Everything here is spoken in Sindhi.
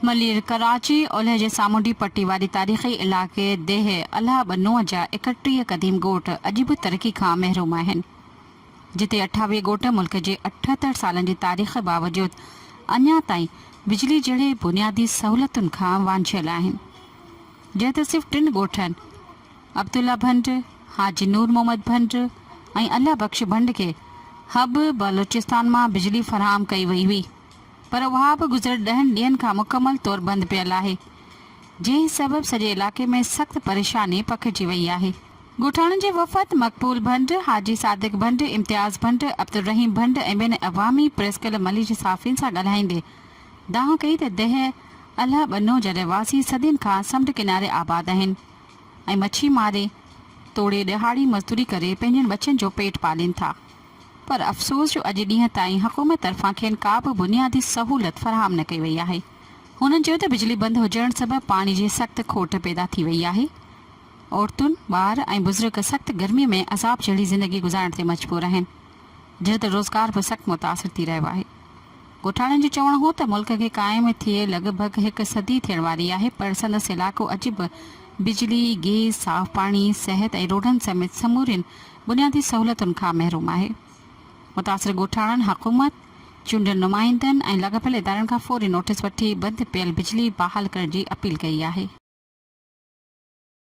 ملير، ڪراچي، اولهه جي سامونڊي پٽي واري تاريخي علائقي ديهه الهه ٻنوهه جا ايڪهٽيهه قديم ڳوٺ اڄ به ترقي کان محروم آهن، جتي اٺاويهه ڳوٺ ملڪ جي اٺهتر سالن جي تاريخ باوجود اڃا تائين بجلي جهڙي بنيادي سهولتن کان وانجهيل آهن، جنهن تي صرف ٽن ڳوٺن عبدالله ڀنڊ، حاجي نور محمد ڀنڊ ۽ الله بخش ڀنڊ کي حب بلوچستان مان بجلي فراهم ڪئي وئي هئي. پر اها به گذريل ڏهن ڏينهن کان مڪمل طور بند پيل آهي، جنهن سبب سڄي علائقي ۾ سخت پريشاني پکڙجي وئي آهي. ڳوٺاڻن جي وفد مقبول ڀنڊ، حاجي صادق ڀنڊ، امتياز ڀنڊ، عبدالرحيم ڀنڊ ۽ ٻين عوامي پريس ڪلب ملي جي صحافين سان ڳالهائيندي دانهن ڪئي ته دهه الهه ٻنو جا رهواسي صدين کان سمنڊ ڪناري آباد آهن ۽ مڇي ماري توڙي ڏهاڙي مزدوري ڪري پنهنجن ٻچن جو پيٽ پالين ٿا. پر افسوس جو اڄ ڏينهن تائين حڪومت طرفان کين ڪا به بنيادي سهولت فراهم نه ڪئي وئي آهي. هنن چيو ته بجلي بند هجڻ سبب پاڻي جي سخت کوٽ پيدا ٿي وئي آهي. عورتون، ٻار ۽ بزرگ سخت گرمي ۾ عذاب جهڙي زندگي گذارڻ تي مجبور آهن. جنهن تي روزگار به سخت متاثر ٿي رهيو آهي. ڳوٺاڻن جو چوڻ هو ته ملڪ کي قائم ٿئي لڳ ڀڳ هڪ صدي ٿيڻ واري آهي پر سندس علائقو اڄ به بجلي، گيس، صاف پاڻي، صحت ۽ روڊن سميت سمورين بنيادي سهولتن کان محروم آهي. متاثر ڳوٺاڻن حڪومت، چونڊيل نمائندن ۽ لاڳاپيل ادارن کان فوري نوٽيس وٺي بند پيل بجلي بحال ڪرڻ جي اپيل ڪئي آهي.